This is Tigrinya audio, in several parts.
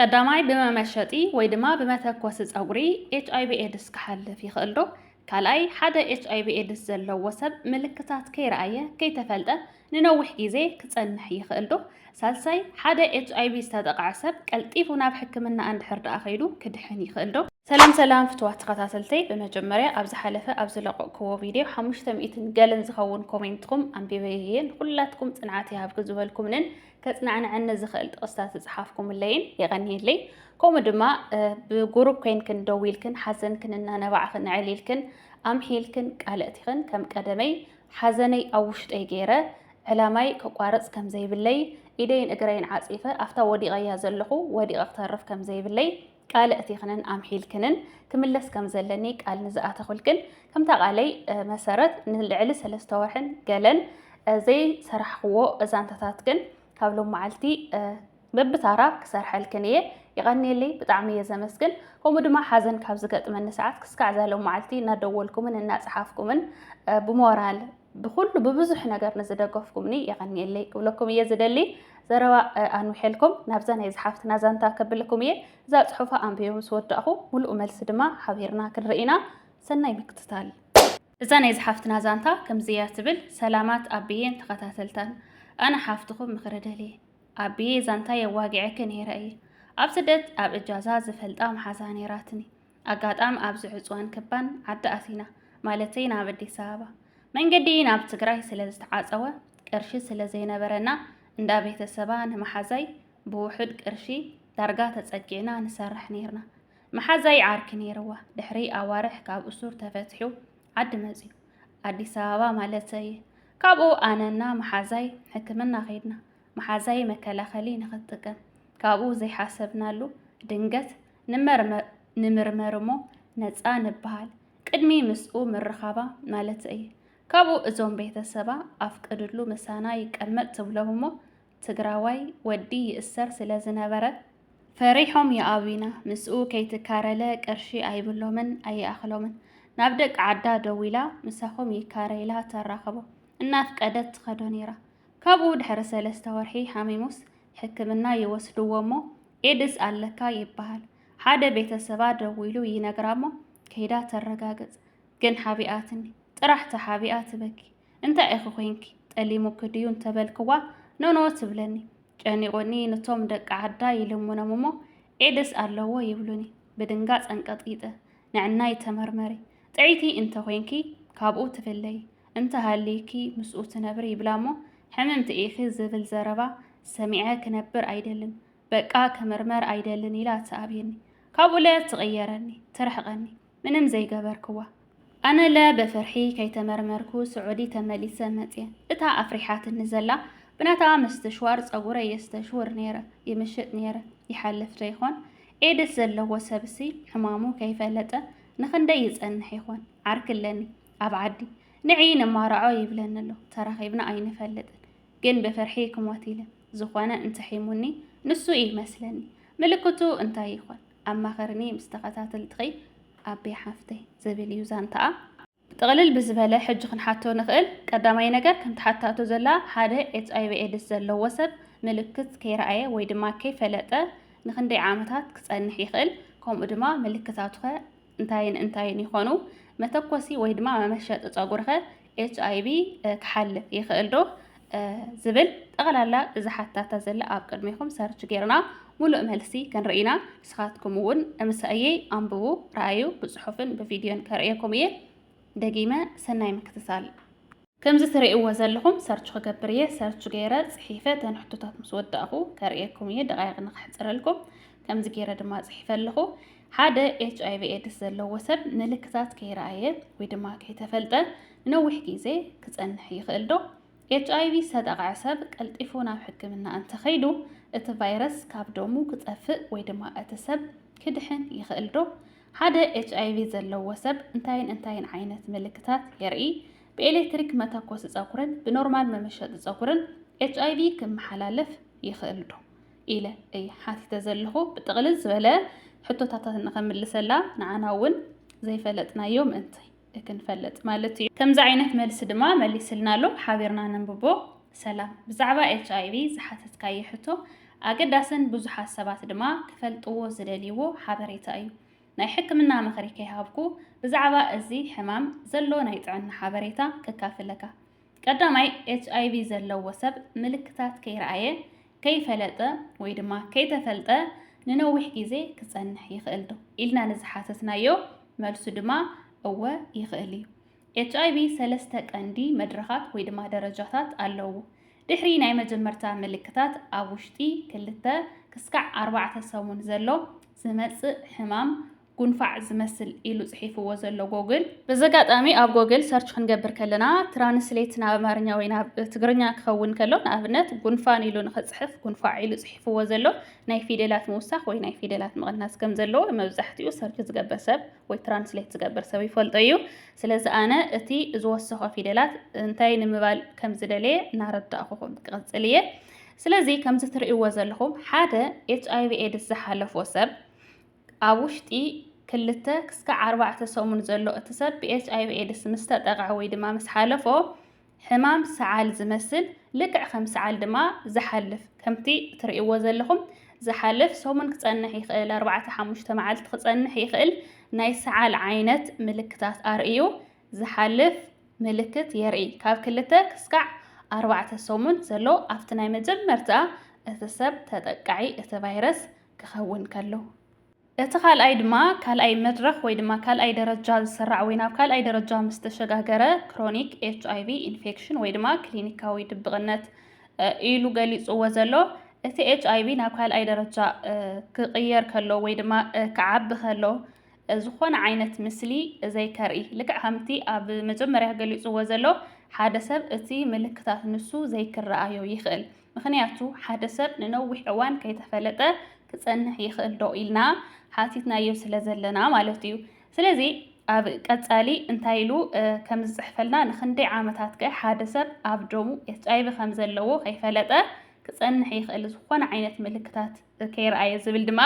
ቀዳማይ ብመመሸጢ ወይ ድማ ብመተኮሲ ፀጉሪ ኤች ኣይቪ ኤድስ ክሓልፍ ይኽእል ዶ? ካልኣይ ሓደ ኤች ኣይቪ ኤድስ ዘለዎ ሰብ ምልክታት ከይረኣየ ከይተፈልጠ ንነዊሕ ግዜ ክፀንሕ ይኽእል ዶ? ሳልሳይ ሓደ ኤች ኣይቪ ዝተጠቕዐ ሰብ ቀልጢፉ ናብ ሕክምና እንድሕር ደኣ ከይዱ ክድሕን ይኽእል ዶ? ሰላም ሰላም ፍትዋት ተኸታተልተይ ብመጀመርያ ኣብ ዝሓለፈ ኣብ ዝለቐቕክዎ ቪድዮ ሓሙሽተ ሚእትን ገልን ዝኸውን ኮሜንትኩም ኣንቢበ እየ ንኩላትኩም ፅንዓት ይሃብኪ ዝበልኩምንን ከጽናዕነዐኒ ዝኽእል ጥቕስታት ዝጽሓፍኩምለይን የቐንየለይ። ከምኡ ድማ ብጉሩብ ኮይንክን ደዊልክን ሓዘንክን እናነባዕኽን ኣዕሊልክን ኣምሒልክን ቃል እቲኽን ከም ቀደመይ ሓዘነይ ኣብ ውሽጠይ ገይረ ዕላማይ ከቋርጽ ከም ዘይብለይ ኢደይን እግረይን ዓጺፈ ኣብታ ወዲቐያ ዘለኹ ወዲቐ ክተርፍ ከም ዘይብለይ ቃል እቲኽንን ኣምሒልክንን ክምለስ ከም ዘለኒ ቃል ንዝኣተኹልክን ከምታ ቃለይ መሰረት ንልዕሊ ሰለስተ ወርሕን ገለን ዘይሰራሕኽዎ ዛንታታትክን ካብ ሎም መዓልቲ በብታራ ክሰርሐልክን እየ። ይቐንየለይ ብጣዕሚ እየ ዘመስግን። ከምኡ ድማ ሓዘን ካብ ዝገጥመኒ ሰዓት ክስካዕ ዛሎም መዓልቲ እናደወልኩምን እናፀሓፍኩምን ብሞራል ብኹሉ ብብዙሕ ነገር ንዝደገፍኩምኒ የቐንየለይ ክብለኩም እየ ዝደሊ። ዘረባ ኣንውሐልኩም ናብዛ ናይ ዝሓፍትና ዛንታ ከብልኩም እየ። እዛ ጽሑፋ ኣንቢበ ምስ ወዳእኹ ምሉእ መልሲ ድማ ሓቢርና ክንርኢ ኢና። ሰናይ ምክትታል። እዛ ናይ ዝሓፍትና ዛንታ ከምዚ እያ ትብል። ሰላማት ኣቢዬን ተኸታተልታን። ኣነ ሓፍትኹም ምኽሪ ደልየ። ኣቢዬ ዛንታይ ኣዋጊዐኪ ነይረ እየ። ኣብ ስደት ኣብ እጃዛ ዝፈልጣ መሓዛ ነይራትኒ። ኣጋጣም ኣብዚ ዕፅዋን ክባን ዓዲ ኣሲና ማለተይ ናብ ኣዲስ ኣበባ መንገዲ ናብ ትግራይ ስለ ዝተዓፀወ ቅርሺ ስለ ዘይነበረና እንዳ ቤተሰባ ንመሓዛይ ብውሑድ ቅርሺ ዳርጋ ተፀጊዕና ንሰርሕ ነይርና። መሓዛይ ዓርኪ ነይርዋ ድሕሪ ኣዋርሕ ካብ እሱር ተፈትሑ ዓዲ መፅዩ ኣዲስ ኣበባ ማለተይ ካብኡ ኣነና መሓዛይ ሕክምና ከይድና መሓዛይ መከላኸሊ ንክትጥቀም ካብኡ ዘይሓሰብናሉ ድንገት ንምርመር እሞ ነፃ ንበሃል ቅድሚ ምስኡ ምርኻባ ማለት እይ ካብኡ እዞም ቤተሰባ ኣፍቅድሉ ምሳና ይቀመጥ ትብሎም እሞ ትግራዋይ ወዲ ይእሰር ስለ ዝነበረ ፈሪሖም ይኣብዩና ምስኡ ከይትካረለ ቅርሺ ኣይብሎምን ኣይኣኽሎምን ናብ ደቂ ዓዳ ደዊላ ምሳኹም ይካረይላ ተራኸቦ እናፍቀደት ትኸዶ ነይራ ካብኡ ድሕሪ ሰለስተ ወርሒ ሓሚሙስ ሕክምና ይወስድዎ እሞ ኤድስ ኣለካ ይበሃል። ሓደ ቤተሰባ ደዊሉ ይነግራሞ ከይዳ ተረጋግጽ ግን ሓቢኣትኒ ጥራሕ ተሓቢኣ ትበኪ እንታይ ኢኺ ኮንኪ ጠሊሙኪ ድዩ እንተበልክዋ ኖኖ ትብለኒ ጨኒቑኒ ንቶም ደቂ ዓዳ ይልምኖም እሞ ኤድስ ኣለዎ ይብሉኒ ብድንጋጽ ኣንቀጥቂጠ ንዕናይ ተመርመሪ ጥዕይቲ እንተኮንኪ ካብኡ ትፍለይ እንተሃሊዩኪ ምስኡ ትነብሪ ይብላ እሞ ሕምምቲ ኢኺ ዝብል ዘረባ ሰሚዐ ክነብር ኣይደልን በቃ ክምርመር ኣይደልን ኢላ ትኣብየኒ ካብኡለ ትቕየረኒ ትርሕቐኒ ምንም ዘይገበርክዋ ኣነለ ብፍርሒ ከይተመርመርኩ ስዑዲ ተመሊሰ መፅየ እታ ኣፍሪሓትኒ ዘላ ብናታ ምስትሽዋር ፀጉረ የስተሽውር ነይረ ይምሽጥ ነይረ ይሓልፍ ዶ ይኾን ኤድስ ዘለዎ ሰብሲ ሕማሙ ከይፈለጠ ንኽንደይ ይፀንሕ ይኾን ዓርኪ ኣለኒ ኣብ ዓዲ ንዒ ነማራዖ ይብለኒ ኣሎ ተራኺብና ኣይንፈልጥን ግን ብፍርሒ ክሞት ኢለ ዝኾነ እንትሒሙኒ ንሱ እዩ መስለኒ ምልክቱ እንታይ ይኾን ኣማኸርኒ ምስ ተኸታተልትኺ ኣቤ ሓፍተይ ዝብል እዩ ዛንታኣ ጥቕልል ብዝበለ ሕጂ ክንሓቶ ንኽእል ቀዳማይ ነገር ከምቲ ሓታቶ ዘላ ሓደ ኤች ኣይቪ ኤድስ ዘለዎ ሰብ ምልክት ከይረኣየ ወይ ድማ ከይፈለጠ ንክንደይ ዓመታት ክጸንሕ ይኽእል ከምኡ ድማ ምልክታቱኸ እንታይን እንታይን ይኾኑ? መተኮሲ ወይ ድማ መመሸጢ ጸጉርኸ ኤች ኣይቪ ክሓልፍ ይኽእል ዶ? ዝብል ጠቕላላ እዚ ሓታታ ዘለ ኣብ ቅድሚኹም ሰርች ጌርና ሙሉእ መልሲ ክንርኢ ኢና። ንስኻትኩም እውን ምሳእየይ ኣንብቡ፣ ረኣዩ፣ ብጽሑፍን ብቪድዮን ከርእየኩም እየ። ደጊመ ሰናይ ምክትታል። ከምዚ ትሪእዎ ዘለኹም ሰርች ክገብር እየ ሰርች ገይረ ጽሒፈ እተን ሕቶታት ምስ ወዳእኹ ከርእየኩም እየ ደቓይቕ ንከሕጽረልኩም ከምዚ ገይረ ድማ ጽሒፈ ኣለኹ ሓደ ኤች ኣይቪ ኤድስ ዘለዎ ሰብ ምልክታት ከይረኣየ ወይ ድማ ከይተፈልጠ ንነዊሕ ግዜ ክጸንሕ ይኽእል ዶ ኤች ኣይቪ ዝተጠቕዐ ሰብ ቀልጢፉ ናብ ሕክምና እንተኸይዱ እቲ ቫይረስ ካብ ደሙ ክጠፍእ ወይ ድማ እቲ ሰብ ክድሕን ይኽእል ዶ ሓደ ኤችኣይቪ ዘለዎ ሰብ እንታይን እንታይን ዓይነት ምልክታት የርኢ? ብኤሌክትሪክ መተኮሲ ጸጉርን ብኖርማል መመሸጢ ጸጉርን ኤችኣይቪ ክመሓላለፍ ይኽእልዶ? ኢለ እየ ሓቲተ ዘለኹ። ብጥቕልል ዝበለ ሕቶታታት ንኸምልሰላ ንዓና እውን ዘይፈለጥናዮ ምእንትይ። ክንፈልጥ ማለት እዩ። ከምዚ ዓይነት መልሲ ድማ መሊስልና ኣሎ፣ ሓቢርና ነንብቦ። ሰላም። ብዛዕባ ኤችኣይቪ ዝሓተትካዮ ሕቶ ኣገዳስን ብዙሓት ሰባት ድማ ክፈልጥዎ ዝደልይዎ ሓበሬታ እዩ። ናይ ሕክምና ምኽሪ ከይሃብኩ ብዛዕባ እዚ ሕማም ዘሎ ናይ ጥዕና ሓበሬታ ከካፍለካ። ቀዳማይ፣ ኤችኣይቪ ዘለዎ ሰብ ምልክታት ከይረኣየ፣ ከይፈለጠ ወይ ድማ ከይተፈልጠ ንነዊሕ ግዜ ክጸንሕ ይኽእል ዶ ኢልና ንዝሓተትናዮ መልሱ ድማ እወ ይኽእል እዩ። ኤችኣይቪ ሰለስተ ቀንዲ መድረኻት ወይ ድማ ደረጃታት ኣለውዎ። ድሕሪ ናይ መጀመርታ ምልክታት ኣብ ውሽጢ ክልተ ክስካዕ ኣርባዕተ ሰሙን ዘሎ ዝመጽእ ሕማም ጉንፋዕ ዝመስል ኢሉ ጽሒፍዎ ዘሎ ጎግል። በዚ ኣጋጣሚ ኣብ ጎግል ሰርች ክንገብር ከለና ትራንስሌት ናብ ኣማርኛ ወይ ናብ ትግርኛ ክኸውን ከሎ ንኣብነት ጉንፋን ኢሉ ንኽጽሕፍ ጉንፋዕ ኢሉ ጽሒፍዎ ዘሎ ናይ ፊደላት ምውሳኽ ወይ ናይ ፊደላት ምቕናስ ከም ዘለዎ መብዛሕትኡ ሰርች ዝገብር ሰብ ወይ ትራንስሌት ዝገብር ሰብ ይፈልጦ እዩ። ስለዚ ኣነ እቲ ዝወሰኾ ፊደላት እንታይ ንምባል ከም ዝደለየ እናረዳእኹኹም ክቕጽል እየ። ስለዚ ከምዚ ትርእይዎ ዘለኹም ሓደ ኤች ኣይቪ ኤድስ ዝሓለፎ ሰብ ኣብ ውሽጢ ክልተ ክስካዕ ኣርባዕተ ሰሙን ዘሎ እቲ ሰብ ብኤችኣይቪ ኤድስ ምስ ተጠቕዐ ወይ ድማ ምስ ሓለፎ ሕማም ሰዓል ዝመስል ልክዕ ከም ሰዓል ድማ ዝሓልፍ ከምቲ እትርእይዎ ዘለኹም ዝሓልፍ ሰሙን ክጸንሕ ይኽእል፣ ኣርባዕተ ሓሙሽተ መዓልቲ ክጸንሕ ይኽእል ናይ ሰዓል ዓይነት ምልክታት ኣርእዩ ዝሓልፍ ምልክት የርኢ። ካብ ክልተ ክስካዕ ኣርባዕተ ሰሙን ዘሎ ኣብቲ ናይ መጀመርታ እቲ ሰብ ተጠቃዒ እቲ ቫይረስ ክኸውን ከሎ። እቲ ካልኣይ ድማ ካልኣይ መድረኽ ወይ ድማ ካልኣይ ደረጃ ዝስራዕ ወይ ናብ ካልኣይ ደረጃ ምስ ተሸጋገረ ክሮኒክ ኤች ኣይቪ ኢንፌክሽን ወይ ድማ ክሊኒካዊ ድብቕነት ኢሉ ገሊፅዎ ዘሎ እቲ ኤች ኣይቪ ናብ ካልኣይ ደረጃ ክቕየር ከሎ ወይ ድማ ክዓቢ ከሎ ዝኾነ ዓይነት ምስሊ ዘይከርኢ ልክዕ ከምቲ ኣብ መጀመርያ ገሊፅዎ ዘሎ ሓደ ሰብ እቲ ምልክታት ንሱ ዘይክረኣዮ ይኽእል ምኽንያቱ ሓደ ሰብ ንነዊሕ እዋን ከይተፈለጠ ክጸንሕ ይኽእል ዶ ኢልና ሓቲትናዮ ስለ ዘለና ማለት እዩ። ስለዚ ኣብ ቀጻሊ እንታይ ኢሉ ከም ዝጽሕፈልና ንኽንደይ ዓመታት ከ ሓደ ሰብ ኣብ ደሙ ኤችኣይቪ ከም ዘለዎ ከይፈለጠ ክጸንሕ ይኽእል ዝኾነ ዓይነት ምልክታት ከይርኣየ ዝብል ድማ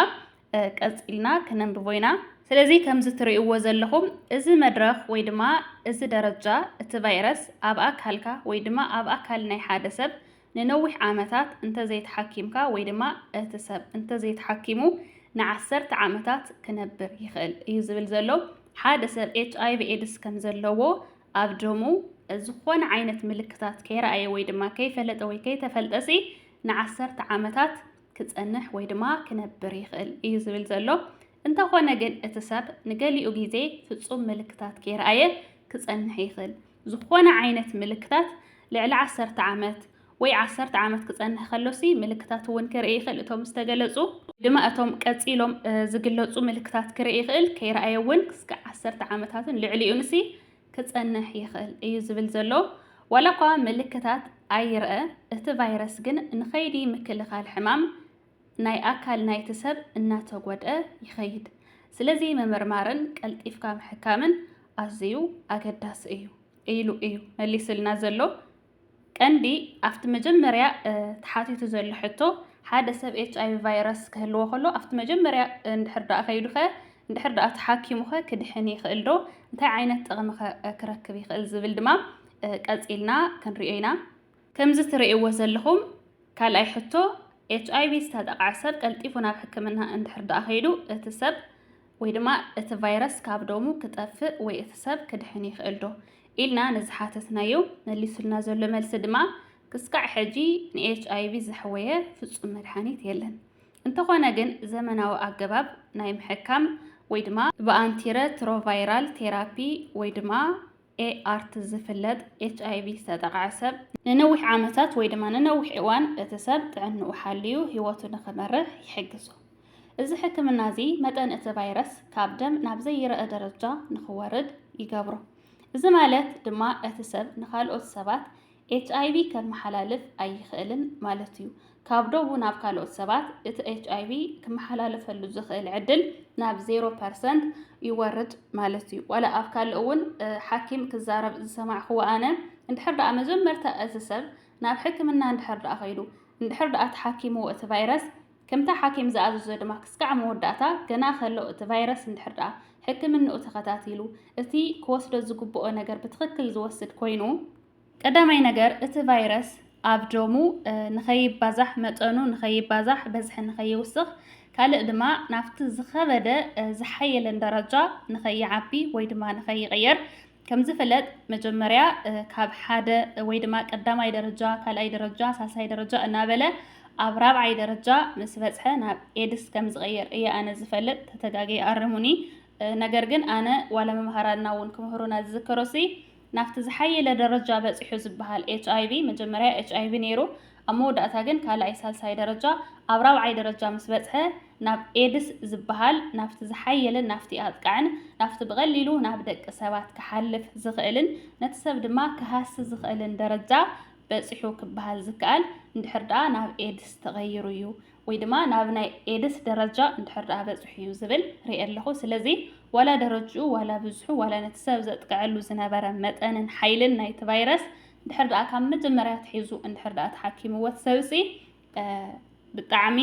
ቀጺልና ክነንብቦ ኢና። ስለዚ ከምዚ ትርእይዎ ዘለኹም እዚ መድረኽ ወይ ድማ እዚ ደረጃ እቲ ቫይረስ ኣብ ኣካልካ ወይ ድማ ኣብ ኣካል ናይ ሓደ ሰብ ንነዊሕ ዓመታት እንተዘይተሓኪምካ ወይ ድማ እቲ ሰብ እንተዘይተሓኪሙ ንዓሰርተ ዓመታት ክነብር ይኽእል እዩ ዝብል ዘሎ። ሓደ ሰብ ኤች ኣይቪ ኤድስ ከም ዘለዎ ኣብ ደሙ ዝኾነ ዓይነት ምልክታት ከይረኣየ ወይ ድማ ከይፈለጠ ወይ ከይተፈልጠሲ ንዓሰርተ ዓመታት ክጸንሕ ወይ ድማ ክነብር ይኽእል እዩ ዝብል ዘሎ። እንተኾነ ግን እቲ ሰብ ንገሊኡ ግዜ ፍጹም ምልክታት ከይረኣየ ክጸንሕ ይኽእል። ዝኾነ ዓይነት ምልክታት ልዕሊ ዓሰርተ ዓመት ወይ ዓሰርተ ዓመት ክጸንሕ ከሎሲ ምልክታት እውን ክርኢ ይኽእል። እቶም ዝተገለጹ ድማ እቶም ቀጺሎም ዝግለጹ ምልክታት ክርኢ ይኽእል፣ ከይረኣየ እውን ክስከ ዓሰርተ ዓመታትን ልዕሊኡንሲ ክጸንሕ ይኽእል እዩ ዝብል ዘሎ። ዋላኳ ምልክታት ኣይርኣ፣ እቲ ቫይረስ ግን ንከይዲ ምክልኻል ሕማም ናይ ኣካል ናይቲ ሰብ እናተጎድኣ ይኸይድ። ስለዚ ምምርማርን ቀልጢፍካ ምሕካምን ኣዝዩ ኣገዳሲ እዩ ኢሉ እዩ መሊሱልና ዘሎ ቀንዲ ኣብቲ መጀመርያ ተሓቲቱ ዘሎ ሕቶ ሓደ ሰብ ኤች ኣይቪ ቫይረስ ክህልዎ ከሎ ኣብቲ መጀመርያ እንድሕር ደኣ ከይዱኸ እንድሕር ደኣ ተሓኪሙኸ ክድሕን ይኽእል ዶ እንታይ ዓይነት ጥቕሚኸ ክረክብ ይኽእል ዝብል ድማ ቀጺልና ክንሪኦ ኢና። ከምዚ ትርእይዎ ዘለኹም ካልኣይ ሕቶ ኤች ኣይቪ ዝተጠቕዐ ሰብ ቀልጢፉ ናብ ሕክምና እንድሕር ደኣ ከይዱ እቲ ሰብ ወይ ድማ እቲ ቫይረስ ካብ ደሙ ክጠፍእ ወይ እቲ ሰብ ክድሕን ይኽእል ዶ? ኢልና ንዝሓተትናዮ መሊሱልና ዘሎ መልሲ ድማ ክስካዕ ሕጂ ንኤችኣይቪ ዘሕወየ ፍጹም መድሓኒት የለን። እንተኾነ ግን ዘመናዊ ኣገባብ ናይ ምሕካም ወይ ድማ ብኣንቲረትሮቫይራል ቴራፒ ወይ ድማ ኤኣርት ዝፍለጥ ኤችኣይቪ ዝተጠቕዐ ሰብ ንነዊሕ ዓመታት ወይ ድማ ንነዊሕ እዋን እቲ ሰብ ጥዕንኡ ሓልዩ ህይወቱ ንኽመርሕ ይሕግዞ። እዚ ሕክምና እዚ መጠን እቲ ቫይረስ ካብ ደም ናብ ዘይረኣ ደረጃ ንኽወርድ ይገብሮ። እዚ ማለት ድማ እቲ ሰብ ንኻልኦት ሰባት ኤችኣይቪ ከመሓላልፍ ኣይኽእልን ማለት እዩ። ካብ ዶቡ ናብ ካልኦት ሰባት እቲ ኤችኣይቪ ክመሓላለፈሉ ዝኽእል ዕድል ናብ ዜሮ ፐርሰንት ይወርድ ማለት እዩ። ዋላ ኣብ ካልእ እውን ሓኪም ክዛረብ ዝሰማዕኽዎ ኣነ እንድሕር ደኣ መጀመርታ እዚ ሰብ ናብ ሕክምና እንድሕር ደኣ ከይዱ እንድሕር ደኣ ተሓኪምዎ እቲ ቫይረስ ከምቲ ሓኪም ዝኣዘዞ ድማ ክስካዕ መወዳእታ ገና ከሎ እቲ ቫይረስ እንድሕር ደኣ ሕክምንኡ ተኸታቲሉ እቲ ክወስዶ ዝግብኦ ነገር ብትኽክል ዝወስድ ኮይኑ ቀዳማይ ነገር እቲ ቫይረስ ኣብ ደሙ ንኸይባዛሕ መጠኑ ንኸይባዛሕ በዝሒ ንኸይውስኽ ካልእ ድማ ናብቲ ዝኸበደ ዝሓየለን ደረጃ ንኸይዓቢ ወይ ድማ ንኸይቕየር ከምዝፍለጥ መጀመርያ ካብ ሓደ ወይ ድማ ቀዳማይ ደረጃ፣ ካልኣይ ደረጃ፣ ሳልሳይ ደረጃ እናበለ ኣብ ራብዓይ ደረጃ ምስ በጽሐ ናብ ኤድስ ከም ዝቐየር እየ ኣነ ዝፈልጥ፣ ተተጋግየ ኣርሙኒ። ነገር ግን ኣነ ዋላ መምሃራንና እውን ክምህሩና ዝዝከሮሲ ናብቲ ዝሓየለ ደረጃ በጺሑ ዝበሃል ኤች ኣይቪ መጀመርያ ኤች ኣይቪ ነይሩ፣ ኣብ መወዳእታ ግን ካልኣይ ሳልሳይ ደረጃ ኣብ ራብዓይ ደረጃ ምስ በጽሐ ናብ ኤድስ ዝበሃል ናብቲ ዝሓየለን ናብቲ ኣጥቃዕን ናብቲ ብቐሊሉ ናብ ደቂ ሰባት ክሓልፍ ዝኽእልን ነቲ ሰብ ድማ ክሃሲ ዝኽእልን ደረጃ በጺሑ ክበሃል ዝከኣል እንድሕር ደኣ ናብ ኤድስ ተቐይሩ እዩ ወይ ድማ ናብ ናይ ኤድስ ደረጃ እንድሕር ደኣ በጺሑ እዩ ዝብል ርኤ ኣለኹ ስለዚ ዋላ ደረጅኡ ዋላ ብዝሑ ዋላ ነቲ ሰብ ዘጥቅዐሉ ዝነበረ መጠንን ሓይልን ናይቲ ቫይረስ ድሕር ድኣ ካብ መጀመርያ ትሒዙ እንድሕር ድኣ ተሓኪምዎ ሰብሲ ብጣዕሚ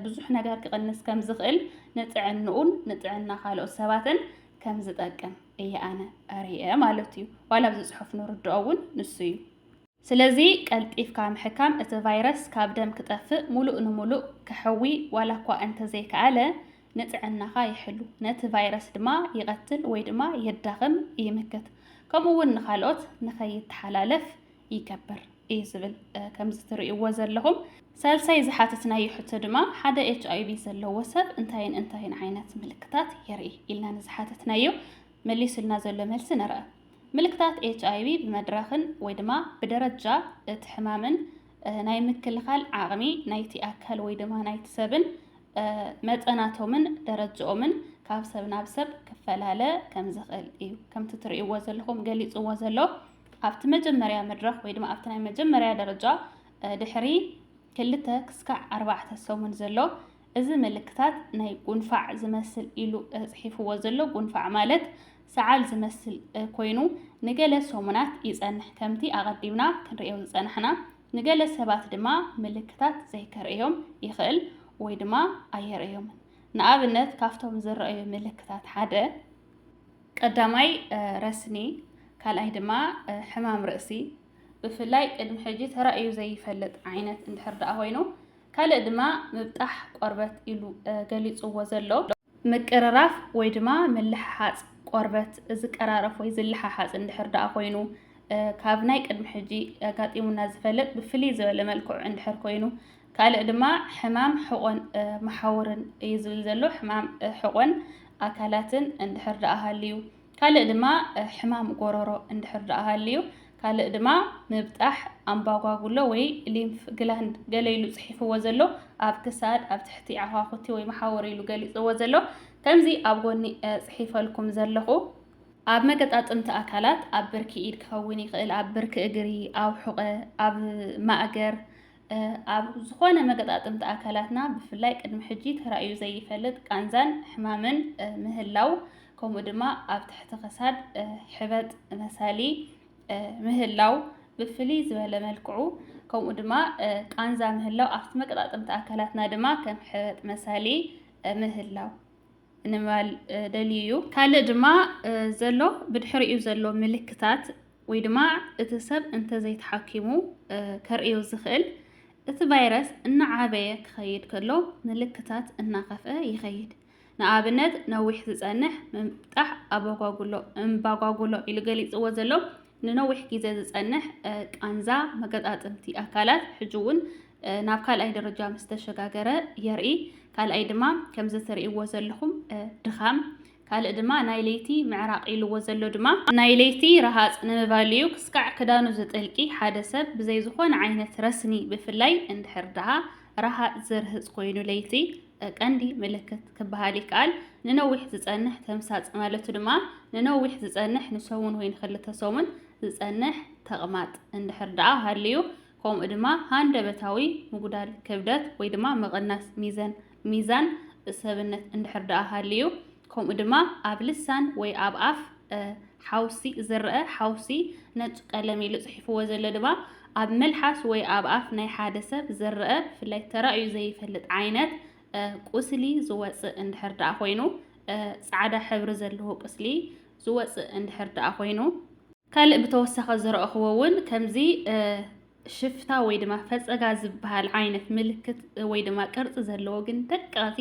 ብዙሕ ነገር ክቕንስ ከም ዝኽእል ንጥዕንኡን ንጥዕና ካልኦት ሰባትን ከም ዝጠቅም እየ ኣነ ርእየ ማለት እዩ ዋላ ኣብዚ ፅሑፍ ንርድኦ እውን ንሱ እዩ ስለዚ ቀልጢፍካ ምሕካም እቲ ቫይረስ ካብ ደም ክጠፍእ ሙሉእ ንሙሉእ ክሕዊ ዋላ እኳ እንተዘይከኣለ ንጥዕናኻ ይሕሉ፣ ነቲ ቫይረስ ድማ ይቐትል ወይ ድማ የዳኽም፣ ይምክት፣ ከምኡ እውን ንኻልኦት ንኸይተሓላለፍ ይገብር እዩ ዝብል። ከምዚ ትርእይዎ ዘለኹም። ሳልሳይ ዝሓተትናዮ ሕቶ ድማ ሓደ ኤች ኣይ ቪ ዘለዎ ሰብ እንታይን እንታይን ዓይነት ምልክታት የርኢ ኢልና ንዝሓተትናዮ መሊሱልና ዘሎ መልሲ ንርኣ። ምልክታት ኤች ኣይ ቪ ብመድረኽን ወይ ድማ ብደረጃ እቲ ሕማምን ናይ ምክልኻል ዓቕሚ ናይቲ ኣካል ወይ ድማ ናይቲ ሰብን መጠናቶምን ደረጅኦምን ካብ ሰብ ናብ ሰብ ክፈላለ ከም ዝኽእል እዩ ከምቲ ትርእይዎ ዘለኹም ገሊፅዎ ዘሎ ኣብቲ መጀመርያ መድረኽ ወይ ድማ ኣብቲ ናይ መጀመርያ ደረጃ ድሕሪ ክልተ ክስካዕ ኣርባዕተ ሰሙን ዘሎ እዚ ምልክታት ናይ ጉንፋዕ ዝመስል ኢሉ ፅሒፍዎ ዘሎ ጉንፋዕ ማለት ሰዓል ዝመስል ኮይኑ ንገለ ሰሙናት ይፀንሕ ከምቲ ኣቐዲምና ክንሪኦ ዝፀናሕና ንገለ ሰባት ድማ ምልክታት ዘይከርእዮም ይኽእል ወይ ድማ ኣየርእዮምን። ንኣብነት ካብቶም ዝረኣዩ ምልክታት ሓደ፣ ቀዳማይ ረስኒ፣ ካልኣይ ድማ ሕማም ርእሲ፣ ብፍላይ ቅድሚ ሕጂ ተራእዩ ዘይፈልጥ ዓይነት እንድሕር ደኣ ኮይኑ፣ ካልእ ድማ ምብጣሕ ቆርበት ኢሉ ገሊጽዎ ዘሎ። ምቅርራፍ ወይ ድማ ምልሕሓጽ ቆርበት ዝቀራረፍ ወይ ዝልሓሓጽ እንድሕር ደኣ ኮይኑ ካብ ናይ ቅድሚ ሕጂ ኣጋጢሙና ዝፈልጥ ብፍልይ ዝበለ መልክዑ እንድሕር ኮይኑ ካልእ ድማ ሕማም ሕቖን መሓውርን እዩ ዝብል ዘሎ ሕማም ሕቖን ኣካላትን እንድሕር ደኣ ሃልዩ ካልእ ድማ ሕማም ጎሮሮ እንድሕር ደኣ ሃልዩ፣ ካልእ ድማ ምብጣሕ ኣምባጓጉሎ ወይ ሊምፍ ግላንድ ገለ ኢሉ ጽሒፍዎ ዘሎ ኣብ ክሳድ ኣብ ትሕቲ ዓዃኹቲ ወይ መሓውር ኢሉ ገሊጽዎ ዘሎ ከምዚ ኣብ ጎኒ ጽሒፈልኩም ዘለኹ ኣብ መገጣጥምቲ ኣካላት ኣብ ብርኪ ኢድ ክኸውን ይኽእል፣ ኣብ ብርኪ እግሪ፣ ኣብ ሑቐ፣ ኣብ ማእገር፣ ኣብ ዝኾነ መገጣጥምቲ ኣካላትና ብፍላይ ቅድሚ ሕጂ ተራእዩ ዘይፈልጥ ቃንዛን ሕማምን ምህላው ከምኡ ድማ ኣብ ትሕቲ ክሳድ ሕበጥ መሳሊ ምህላው ብፍልይ ዝበለ መልክዑ ከምኡ ድማ ቃንዛ ምህላው ኣብቲ መቀጣጠምቲ ኣካላትና ድማ ከም ሕበጥ መሳሊ ምህላው ንምባል ደልዩ እዩ። ካልእ ድማ ዘሎ ብድሕሪኡ ዘሎ ምልክታት ወይ ድማ እቲ ሰብ እንተዘይተሓኪሙ ከርእዮ ዝኽእል እቲ ቫይረስ እናዓበየ ክኸይድ ከሎ ምልክታት እናኸፍአ ይኸይድ። ንኣብነት ነዊሕ ዝጸንሕ ምምጣሕ ኣባጓጉሎ እምባጓጉሎ ኢሉ ገሊጽዎ ዘሎ ንነዊሕ ግዜ ዝጸንሕ ቃንዛ መገጣጥምቲ ኣካላት ሕጂ እውን ናብ ካልኣይ ደረጃ ምስ ተሸጋገረ የርኢ። ካልኣይ ድማ ከምዚ ትርእይዎ ዘለኹም ድኻም፣ ካልእ ድማ ናይ ለይቲ ምዕራቕ ኢልዎ ዘሎ ድማ ናይ ለይቲ ረሃጽ ንምባል እዩ። ክስካዕ ክዳኑ ዝጥልቂ ሓደ ሰብ ብዘይ ዝኾነ ዓይነት ረስኒ ብፍላይ እንድሕር ደኣ ረሃጽ ዝርህጽ ኮይኑ ለይቲ ቀንዲ ምልክት ክበሃል ይከኣል። ንነዊሕ ዝጸንሕ ተምሳጥ ማለቱ ድማ ንነዊሕ ዝጸንሕ ንሰሙን ወይ ንክልተ ሰሙን ዝጸንሕ ተቕማጥ እንድሕር ደኣ ሃልዩ ከምኡ ድማ ሃንደበታዊ ምጉዳል ክብደት ወይ ድማ ምቕናስ ሚዘን ሚዛን ሰብነት እንድሕር ደኣ ሃልዩ ከምኡ ድማ ኣብ ልሳን ወይ ኣብ ኣፍ ሓውሲ ዝረአ ሓውሲ ነጭ ቀለም ኢሉ ጽሒፍዎ ዘሎ ድማ ኣብ መልሓስ ወይ ኣብ ኣፍ ናይ ሓደ ሰብ ዝረአ ብፍላይ ተራእዩ ዘይፈልጥ ዓይነት ቁስሊ ዝወጽእ እንድሕር ደኣ ኮይኑ ጻዕዳ ሕብሪ ዘለዎ ቁስሊ ዝወጽእ እንድሕር ደኣ ኮይኑ ካልእ ብተወሳኺ ዝረእኹዎ እውን ከምዚ ሽፍታ ወይ ድማ ፈፀጋ ዝበሃል ዓይነት ምልክት ወይ ድማ ቅርፂ ዘለዎ ግን ደቀቕቲ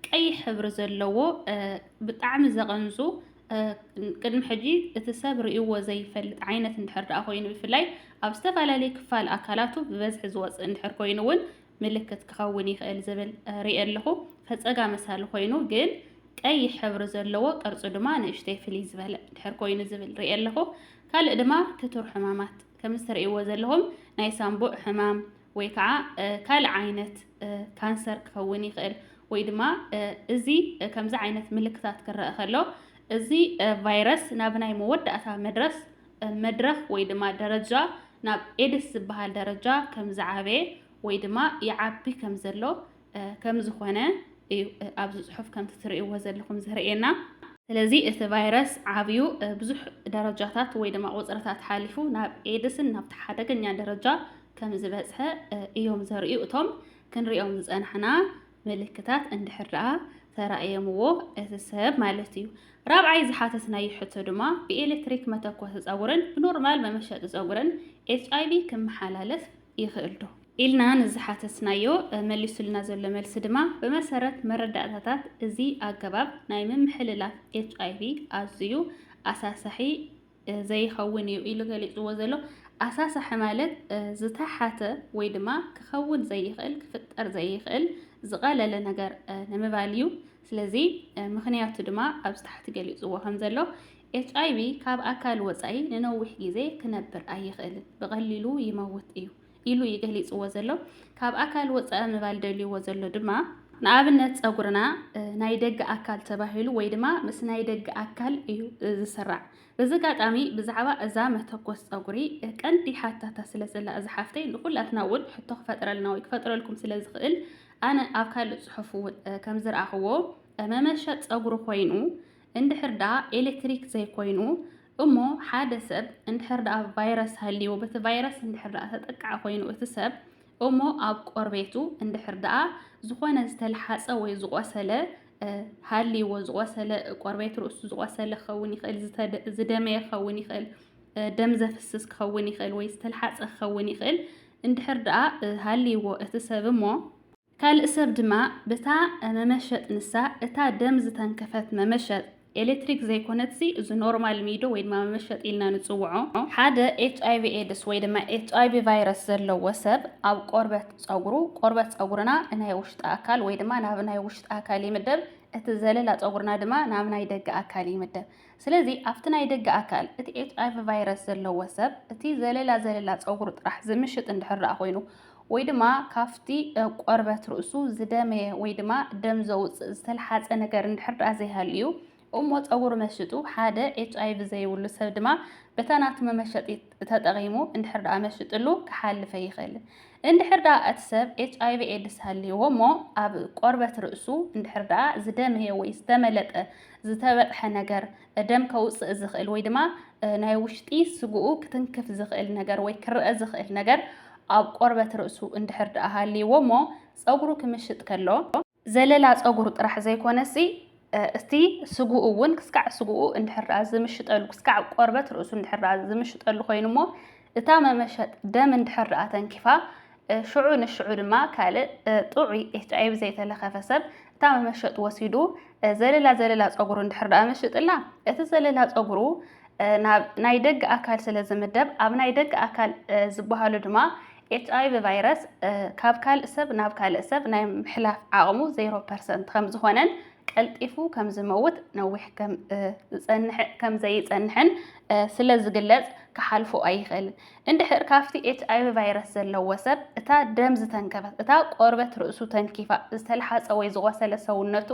ቀይሕ ሕብሪ ዘለዎ ብጣዕሚ ዘቐንዙ ቅድሚ ሕጂ እቲ ሰብ ርእይዎ ዘይፈልጥ ዓይነት እንድሕር ደኣ ኮይኑ ብፍላይ ኣብ ዝተፈላለየ ክፋል ኣካላቱ ብበዝሒ ዝወፅእ እንድሕር ኮይኑ እውን ምልክት ክኸውን ይኽእል ዝብል ሪኤ ኣለኹ ፈፀጋ መሳሊ ኮይኑ ግን ቀይሕ ሕብሪ ዘለዎ ቅርፁ ድማ ንእሽተይ ፍልይ ዝበለ ድሕር ኮይኑ ዝብል ሪኤ ኣለኹ ካልእ ድማ ክቱር ሕማማት ከምዚ ትርእይዎ ዘለኹም ናይ ሳምቡእ ሕማም ወይ ከዓ ካልእ ዓይነት ካንሰር ክኸውን ይኽእል ወይ ድማ እዚ ከምዚ ዓይነት ምልክታት ክረአ ከሎ እዚ ቫይረስ ናብ ናይ መወዳእታ መድረስ መድረኽ ወይ ድማ ደረጃ ናብ ኤድስ ዝበሃል ደረጃ ከም ዝዓበየ ወይ ድማ ይዓቢ ከም ዘሎ ከም ዝኾነ እዩ ኣብዚ ጽሑፍ ከምቲ ትርእይዎ ዘለኹም ዘርእየና። ስለዚ እቲ ቫይረስ ዓብዩ ብዙሕ ደረጃታት ወይ ድማ ቁጽርታት ሓሊፉ ናብ ኤድስን ናብቲ ሓደገኛ ደረጃ ከም ዝበጽሐ እዮም ዘርእዩ እቶም ክንሪኦም ዝጸናሕና ምልክታት እንድሕር ደኣ ተራእየምዎ እቲ ሰብ ማለት እዩ። ራብዓይ ዝሓተትናዮ ሕቶ ድማ ብኤሌክትሪክ መተኮሲ ጸጉርን ብኖርማል መመሸጢ ጸጉርን ኤችኣይቪ ክመሓላለፍ ይኽእል ዶ? ኢልና ንዝሓተትናዮ መሊሱልና ዘሎ መልሲ ድማ ብመሰረት መረዳእታታት እዚ ኣገባብ ናይ ምምሕልላፍ ኤችኣይቪ ኣዝዩ ኣሳሳሒ ዘይኸውን እዩ ኢሉ ገሊጽዎ ዘሎ። ኣሳሳሒ ማለት ዝተሓተ ወይ ድማ ክኸውን ዘይኽእል፣ ክፍጠር ዘይኽእል ዝቐለለ ነገር ንምባል እዩ። ስለዚ ምኽንያቱ ድማ ኣብዚ ታሕቲ ገሊጽዎ ከም ዘሎ ኤች ኣይቪ ካብ ኣካል ወጻኢ ንነዊሕ ግዜ ክነብር ኣይኽእልን፣ ብቐሊሉ ይመውት እዩ። ኢሉ እዩ ገሊጽዎ ዘሎ። ካብ ኣካል ወጻኢ ምባል ደልዩዎ ዘሎ ድማ፣ ንኣብነት ጸጉርና ናይ ደገ ኣካል ተባሂሉ ወይ ድማ ምስ ናይ ደገ ኣካል እዩ ዝስራዕ። በዚ ኣጋጣሚ ብዛዕባ እዛ መተኮስ ጸጉሪ ቀንዲ ሓታታ ስለ ዘላ እዛ ሓፍተይ ንኹላትና እውን ሕቶ ክፈጥረልና ወይ ክፈጥረልኩም ስለ ዝኽእል ኣነ ኣብ ካልእ ጽሑፍ እውን ከም ዝረኣኹዎ መመሸጥ ጸጉሪ ኮይኑ እንድሕር ደኣ ኤሌክትሪክ ዘይኮይኑ እሞ ሓደ ሰብ እንድሕር ደኣ ቫይረስ ሃልይዎ በቲ ቫይረስ እንድሕር ደኣ ተጠቃዒ ኮይኑ እቲ ሰብ እሞ ኣብ ቆርቤቱ እንድሕር ደኣ ዝኾነ ዝተልሓጸ ወይ ዝቖሰለ ሃልይዎ ዝቖሰለ ቆርቤት ርእሱ ዝቖሰለ ክኸውን ይኽእል ዝደመየ ክኸውን ይኽእል ደም ዘፍስስ ክኸውን ይኽእል ወይ ዝተልሓጸ ክኸውን ይኽእል እንድሕር ደኣ ሃልይዎ እቲ ሰብ እሞ ካልእ ሰብ ድማ ብታ መመሸጥ ንሳ እታ ደም ዝተንከፈት መመሸጥ ኤሌክትሪክ ዘይኮነትሲ እዚ ኖርማል ሚዶ ወይ ድማ መመሸጥ ኢልና ንጽውዖ ሓደ ኤችኣይቪ ኤድስ ወይ ድማ ኤችኣይቪ ቫይረስ ዘለዎ ሰብ ኣብ ቆርበት ጸጉሩ ቆርበት ጸጉርና ናይ ውሽጢ ኣካል ወይ ድማ ናብ ናይ ውሽጢ ኣካል ይምደብ እቲ ዘለላ ጸጉርና ድማ ናብ ናይ ደገ ኣካል ይምደብ ስለዚ ኣብቲ ናይ ደገ ኣካል እቲ ኤችኣይቪ ቫይረስ ዘለዎ ሰብ እቲ ዘለላ ዘለላ ጸጉሩ ጥራሕ ዝምሽጥ እንድሕር ደኣ ኮይኑ ወይ ድማ ካብቲ ቆርበት ርእሱ ዝደመየ ወይ ድማ ደም ዘውጽእ ዝተልሓጸ ነገር እንድሕር ደኣ ዘይሃልዩ እሞ ጸጉሪ መሽጡ ሓደ ኤችኣይቪ ዘይብሉ ሰብ ድማ በታ ናቱ መመሸጢ ተጠቒሙ እንድሕር ደኣ መሽጥሉ ክሓልፈ ይኽእል። እንድሕር ደኣ እቲ ሰብ ኤችኣይቪ ኤድስ ሃልይዎ እሞ ኣብ ቆርበት ርእሱ እንድሕር ደኣ ዝደመየ ወይ ዝተመለጠ ዝተበጽሐ ነገር ደም ከውጽእ ዝኽእል ወይ ድማ ናይ ውሽጢ ስግኡ ክትንክፍ ዝኽእል ነገር ወይ ክረአ ዝኽእል ነገር ኣብ ቆርበት ርእሱ እንድሕር ደኣ ሃልይዎ እሞ ጸጉሩ ክምሽጥ ከሎ ዘለላ ጸጉሩ ጥራሕ ዘይኮነሲ እቲ ስግኡ እውን ክስካዕ ስግኡ እንድሕር ደኣ ዝምሽጠሉ ክስካዕ ቆርበት ርእሱ እንድሕር ደኣ ዝምሽጠሉ ኮይኑ እሞ እታ መመሸጥ ደም እንድሕር ደኣ ተንኪፋ ሽዑ ንሽዑ ድማ ካልእ ጥዑይ ኤችኣይቪ ዘይተለኸፈ ሰብ እታ መመሸጥ ወሲዱ ዘለላ ዘለላ ፀጉሩ እንድሕር ደኣ መሽጥላ እቲ ዘለላ ፀጉሩ ናብ ናይ ደገ ኣካል ስለ ዝምደብ ኣብ ናይ ደገ ኣካል ዝበሃሉ ድማ ኤችኣይቪ ቫይረስ ካብ ካልእ ሰብ ናብ ካልእ ሰብ ናይ ምሕላፍ ዓቕሙ ዜሮ ፐርሰንት ከም ዝኾነን ቀልጢፉ ከም ዝመውት ነዊሕ ከም ዝፀንሕ ከም ዘይፀንሕን ስለ ዝግለፅ ክሓልፎ ኣይኽእልን። እንድሕር ካብቲ ኤችኣይቪ ቫይረስ ዘለዎ ሰብ እታ ደም ዝተንከፈት፣ እታ ቆርበት ርእሱ ተንኪፋ፣ ዝተልሓጸ ወይ ዝቖሰለ ሰውነቱ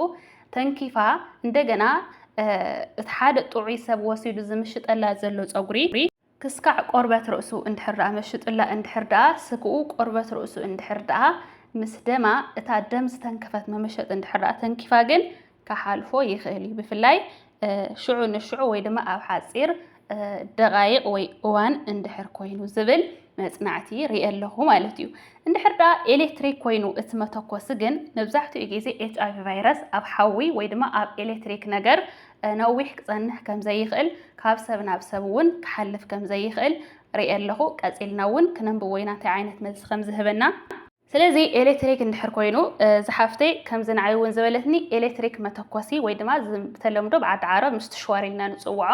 ተንኪፋ፣ እንደገና እቲ ሓደ ጥዑይ ሰብ ወሲዱ ዝምሽጠላ ዘሎ ጸጉሪ፣ ክስካዕ ቆርበት ርእሱ እንድሕር ደኣ መሽጡላ፣ እንድሕር ደኣ ስግኡ ቆርበት ርእሱ እንድሕር ደኣ ምስ ደማ፣ እታ ደም ዝተንከፈት መመሸጥ እንድሕር ደኣ ተንኪፋ ግን ክሓልፎ ይኽእል እዩ። ብፍላይ ሽዑ ንሽዑ ወይ ድማ ኣብ ሓጺር ደቓይቕ ወይ እዋን እንድሕር ኮይኑ ዝብል መጽናዕቲ ርየ ኣለኹ ማለት እዩ። እንድሕር ደኣ ኤሌክትሪክ ኮይኑ እቲ መተኮሲ ግን መብዛሕትኡ ግዜ ኤች ኣይቪ ቫይረስ ኣብ ሓዊ ወይ ድማ ኣብ ኤሌክትሪክ ነገር ነዊሕ ክጸንሕ ከም ዘይኽእል ካብ ሰብ ናብ ሰብ እውን ክሓልፍ ከም ዘይኽእል ርየ ኣለኹ። ቀጺልና እውን ክነንብቦ ኢና እንታይ ዓይነት መልሲ ከም ዝህበና። ስለዚ ኤሌክትሪክ እንድሕር ኮይኑ ዝሓፍተይ ከምዚ ንዓይ እውን ዝበለትኒ ኤሌክትሪክ መተኮሲ ወይ ድማ ብተለምዶ ብዓዲ ዓረብ ምስ ትሽዋር ኢልና ንፅውዖ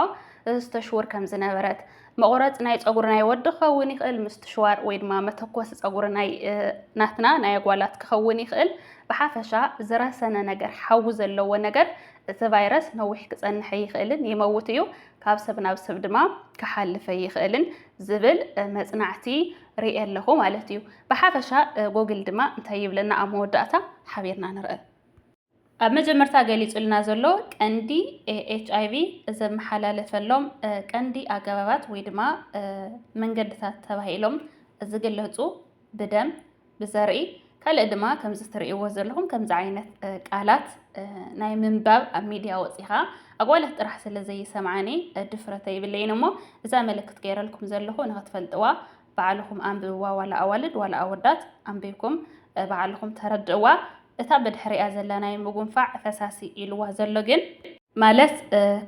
እዚ ተሽውር ከም ዝነበረት መቑረፂ ናይ ፀጉሪ ናይ ወዲ ክኸውን ይኽእል ምስ ትሽዋር ወይ ድማ መተኮሲ ፀጉሪ ናይ ናትና ናይ ኣጓላት ክኸውን ይኽእል ብሓፈሻ ዝረሰነ ነገር ሓዊ ዘለዎ ነገር እቲ ቫይረስ ነዊሕ ክፀንሐ ይኽእልን ይመውት እዩ ካብ ሰብ ናብ ሰብ ድማ ክሓልፈ ይኽእልን ዝብል መፅናዕቲ ሪኤ ኣለኹ ማለት እዩ። ብሓፈሻ ጎግል ድማ እንታይ ይብለና ኣብ መወዳእታ ሓቢርና ንርእ። ኣብ መጀመርታ ገሊጹልና ዘሎ ቀንዲ ኤች ኣይቪ ዘመሓላለፈሎም ቀንዲ ኣገባባት ወይ ድማ መንገድታት ተባሂሎም ዝግለጹ ብደም፣ ብዘርኢ፣ ካልእ ድማ ከምዚ ትርእይዎ ዘለኹም ከምዚ ዓይነት ቃላት ናይ ምንባብ ኣብ ሚድያ ወፂኻ ኣጓላት ጥራሕ ስለ ዘይሰምዓኒ ድፍረተ ይብለይን እሞ እዛ ምልክት ገይረልኩም ዘለኹ ንኽትፈልጥዋ ባዕልኹም ኣንብብዋ ዋላ ኣዋልድ ዋላ ኣወዳት ኣንቢብኩም ባዕልኹም ተረድእዋ እታ ብድሕሪኣ ዘላ ናይ ምጉንፋዕ ፈሳሲ ኢልዋ ዘሎ ግን ማለት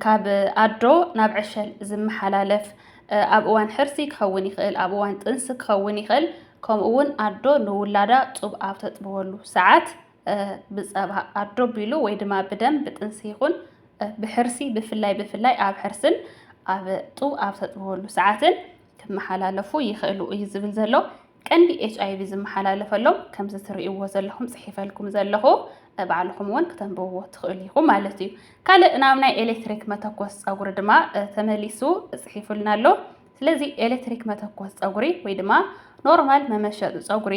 ካብ ኣዶ ናብ ዕሸል ዝመሓላለፍ ኣብ እዋን ሕርሲ ክኸውን ይኽእል፣ ኣብ እዋን ጥንሲ ክኸውን ይኽእል፣ ከምኡ እውን ኣዶ ንውላዳ ጡብ ኣብ ተጥብወሉ ሰዓት ብፀባ ኣዶ ቢሉ ወይ ድማ ብደም ብጥንሲ ይኹን ብሕርሲ ብፍላይ ብፍላይ ኣብ ሕርስን ኣብ ጡብ ኣብ ተጥብወሉ ሰዓትን ክመሓላለፉ ይኽእሉ እዩ ዝብል ዘሎ ቀንዲ ኤች ኣይቪ ዝመሓላለፈሎም ከምዚ ትርእይዎ ዘለኹም ፅሒፈልኩም ዘለኹ ባዕልኹም እውን ክተንብብዎ ትኽእሉ ኢኹም ማለት እዩ ካልእ ናብ ናይ ኤሌክትሪክ መተኮስ ፀጉሪ ድማ ተመሊሱ ፅሒፉልና ኣሎ ስለዚ ኤለክትሪክ መተኮስ ጸጉሪ ወይ ድማ ኖርማል መመሸጢ ጸጉሪ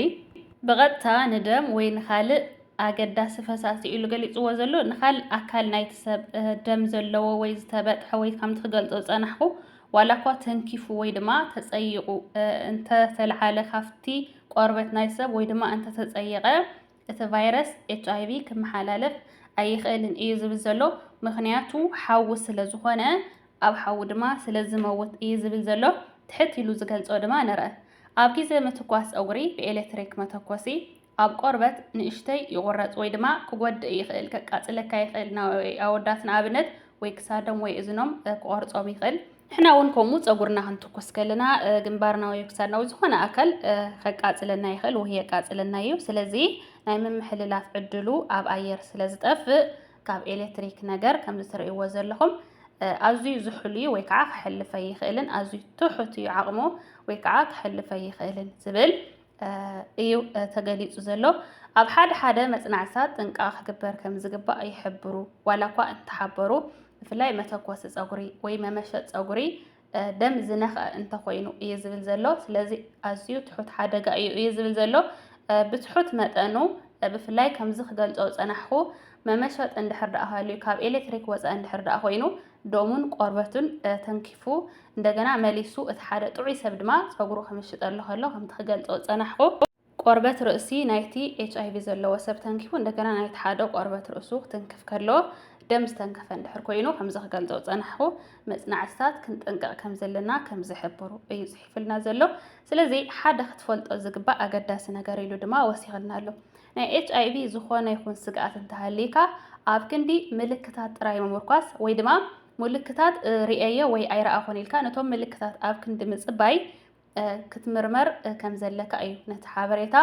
ብቐጥታ ንደም ወይ ንኻልእ ኣገዳሲ ፈሳሲ ኢሉ ገሊጽዎ ዘሎ ንኻልእ ኣካል ናይቲ ሰብ ደም ዘለዎ ወይ ዝተበጥሐ ወይ ከምቲ ክገልጾ ዝጸናሕኩ ዋላ እኳ ተንኪፉ ወይ ድማ ተጸይቑ እንተተልዓለ ካብቲ ቆርበት ናይ ሰብ ወይ ድማ እንተተጸየቐ እቲ ቫይረስ ኤችኣይቪ ክመሓላለፍ ኣይኽእልን እዩ ዝብል ዘሎ ምኽንያቱ ሓዊ ስለ ዝኾነ ኣብ ሓዊ ድማ ስለ ዝመውት እዩ ዝብል ዘሎ ትሕት ኢሉ ዝገልጾ ድማ ንርእ ኣብ ግዜ ምትኳስ ጸጉሪ ብኤሌክትሪክ መተኮሲ ኣብ ቆርበት ንእሽተይ ይቑረጽ ወይ ድማ ክጎድእ ይኽእል ከቃጽለካ ይኽእል ናይ ኣወዳት ንኣብነት ወይ ክሳዶም ወይ እዝኖም ክቆርጾም ይኽእል ንሕና እውን ከምኡ ፀጉርና ክንትኩስ ከለና ግንባርና ወይ ክሳድና ወይ ዝኾነ ኣካል ከቃፅለና ይኽእል ወይ የቃፅለና እዩ። ስለዚ ናይ ምምሕልላፍ ዕድሉ ኣብ ኣየር ስለ ዝጠፍእ ካብ ኤሌክትሪክ ነገር ከምዚ ትርእይዎ ዘለኹም ኣዝዩ ዝሑል እዩ ወይ ከዓ ክሕልፈ ይኽእልን ኣዝዩ ትሑት እዩ ዓቕሙ ወይ ከዓ ክሕልፈ ይኽእልን ዝብል እዩ ተገሊጹ ዘሎ። ኣብ ሓደ ሓደ መጽናዕትታት ጥንቃቐ ክግበር ከም ዝግባእ ይሕብሩ፣ ዋላ እኳ እንተሓበሩ፣ ብፍላይ መተኮሲ ጸጉሪ ወይ መመሸጥ ጸጉሪ ደም ዝነኽአ እንተኾይኑ እዩ ዝብል ዘሎ። ስለዚ ኣዝዩ ትሑት ሓደጋ እዩ እዩ ዝብል ዘሎ። ብትሑት መጠኑ ብፍላይ ከምዚ ክገልጾ ዝጸናሕኩ መመሸጥ እንድሕር ደኣ ሃልዩ ካብ ኤሌክትሪክ ወጻኢ እንድሕር ደኣ ኮይኑ ደሙን ቆርበቱን ተንኪፉ እንደገና መሊሱ እቲ ሓደ ጥዑይ ሰብ ድማ ጸጉሩ ክምሽጠሉ ከሎ ከምቲ ክገልጾ ዝጸናሕኩ ቆርበት ርእሲ ናይቲ ኤች ኣይቪ ዘለዎ ሰብ ተንኪፉ እንደገና ናይቲ ሓደ ቆርበት ርእሱ ክትንክፍ ከሎ ደም ዝተንከፈ እንድሕር ኮይኑ ከምዚ ክገልጾ ዝጸናሕኩ መጽናዕትታት ክንጥንቀቕ ከም ዘለና ከም ዝሕብሩ እዩ ጽሒፉልና ዘሎ። ስለዚ ሓደ ክትፈልጦ ዝግባእ ኣገዳሲ ነገር ኢሉ ድማ ወሲኽልና ኣሎ። ናይ ኤችኣይቪ ዝኾነ ይኹን ስግኣት እንተሃልይካ ኣብ ክንዲ ምልክታት ጥራይ ምምርኳስ ወይ ድማ ምልክታት ርእየዮ ወይ ኣይረኣኹን ኢልካ ነቶም ምልክታት ኣብ ክንዲ ምጽባይ ክትምርመር ከም ዘለካ እዩ ነቲ ሓበሬታ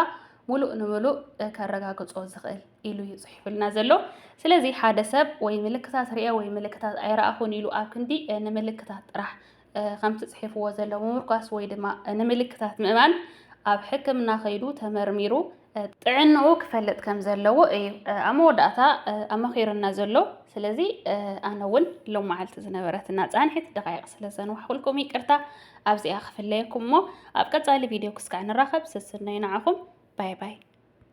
ሙሉእ ንምሉእ ከረጋግጾ ዝኽእል ኢሉ እዩ ጽሒፉልና ዘሎ። ስለዚ ሓደ ሰብ ወይ ምልክታት ርእየ ወይ ምልክታት ኣይረኣኹን ኢሉ ኣብ ክንዲ ንምልክታት ጥራሕ ከምቲ ጽሒፍዎ ዘሎ ምምርኳስ ወይ ድማ ንምልክታት ምእማን ኣብ ሕክምና ከይዱ ተመርሚሩ ጥዕንኡ ክፈልጥ ከም ዘለዎ እዩ ኣብ መወዳእታ ኣመኺሩና ዘሎ። ስለዚ ኣነ እውን ሎም መዓልቲ ዝነበረትና ጻንሒት ደቃይቕ ስለ ዘንዋሕኩልኩም ይቅርታ ኣብዚኣ ክፍለየኩም እሞ ኣብ ቀጻሊ ቪድዮ ክስካዕ ንራኸብ ስስነይ ንዓኹም ባይ ባይ።